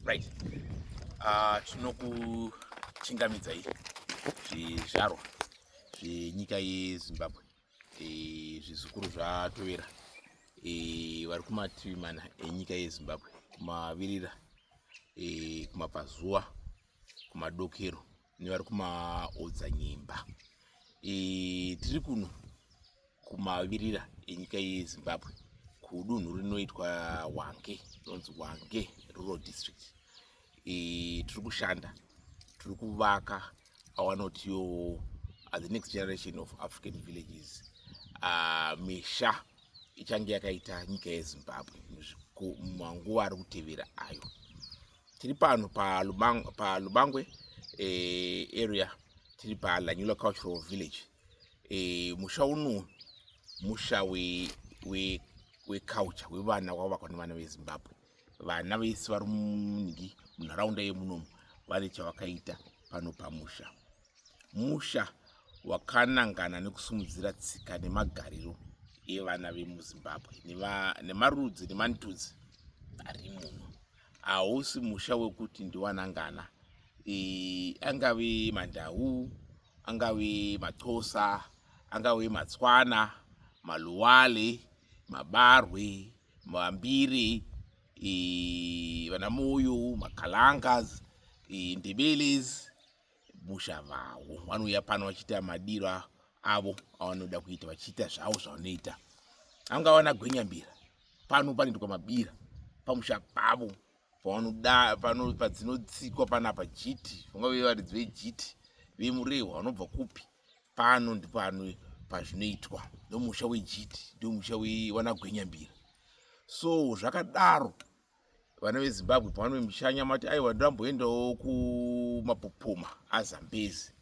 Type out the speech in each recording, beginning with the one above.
right ah, tinokuchingamidzai zvizvarwa zvenyika yezimbabwe eh, zvizukuru zvatovera eh, vari kumativi mana enyika yezimbabwe kumavirira eh, kumabvazuva kumadokero nevari kumaodzanyemba e, tiri kuno kumavirira enyika yezimbabwe kudunhu rinoitwa wange rinonzi wange rural district e, tiri kushanda tiri kuvaka awanotiwo uh, the next generation of african villages uh, misha ichange yakaita nyika yezimbabwe manguva ari kutevera ayo tiri pano palubangwe eh, area tiri palanyula cultural village eh, musha uno musha weculture wevana wavakwa nevana vezimbabwe vana vese vari munhingi munharaunda yemunomu vane chavakaita pano pamusha musha wakanangana nekusumudzira tsika nemagariro evana vemuzimbabwe nemarudzi nemantudzi ari muno hausi musha wekuti ndiwanangana e, angave mandau angave maxhosa angave matswana maluwale mabarwe mambiri e, vanamoyo makalangas e, ndebeles musha vavo vanouya pano vachiita madiro avo avanoda kuita vachiita zvavo zvavanoita anga vana gwenyambira pano panoitwa mabira pamusha pavo pavanoda pano padzinotsikwa panapa jiti vangave varidzi vejiti vemurehwa vanobva kupi pano ndipano pazvinoitwa ndomusha wejiti ndomusha wewanagwenyambira so zvakadaro vana vezimbabwe pavanoe mushanya mati aiwa ndamboendawo kumapopoma azambezi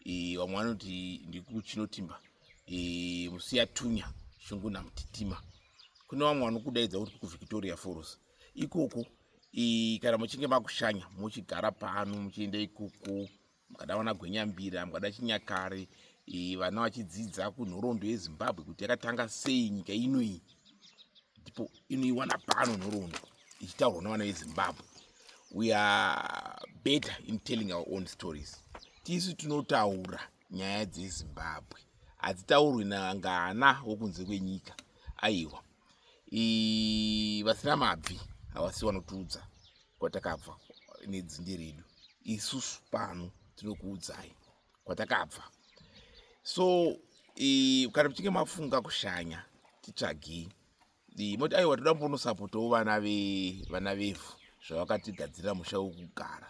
e, vamwe vanoti ndikuchinotimba e, musiyatunya shungu namtitima kune vamwe vanokudaidza kuti kuvictoria foros ikoko e, kana muchinge makushanya muchigara pano muchienda ikoko mukada vana gwenyambira mukada chinyakare e, vana vachidzidza kunhoroondo yezimbabwe kuti yakatanga sei nyika ino iyi ndipo inoiwana pano nhoroondo ichitaurwa nevana vezimbabwe we are better in telling our own stories tisu tinotaura nyaya dzezimbabwe hadzitaurwi nangana wokunze kwenyika aiwa vasina mabvi havasi vanotiudza kwatakabva nedzinde redu isusu pano tinokuudzai kwatakabva so e, kana muchinge mafunga kushanya titsvagei e, moti aiwa toda mbonosapotawo vana vevana vevhu zvavakatigadzirira musha wekugara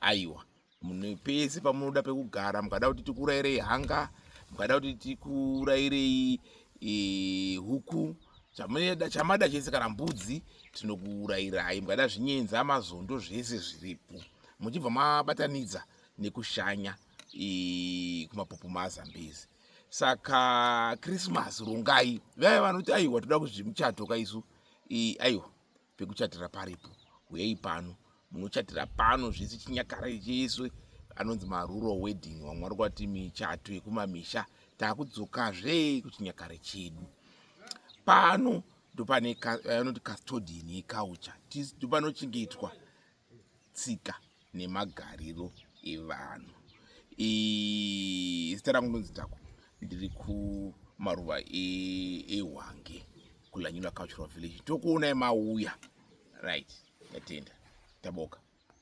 aiwa Munhu pese pamunoda pekugara mukada kuti tikurairei hanga mukada kuti tikurairei e, huku chamada chamada chese kana mbudzi tinokuurairai mukada zvinyenza mazondo zvese zviripo muchibva mabatanidza nekushanya e, kumapopo mazambezi saka krismas rongai vaya vanoti aiwa toda kuzvimuchato kaisu e, aiwa pekuchatira paripo huyei pano munochatira pano zvese chinyakare chese anonzi maruro wedding vamwe vari kwati michato yekumamisha takudzokazve kuchinyakare chedu pano ndopane anoti custodian yecouture ndopanochengetwa tsika nemagariro evanhu zita rangu ndonzi tako ndiri kumaruva ehwange e kulanyula cultural village tokuonai mauya right ndatenda taboka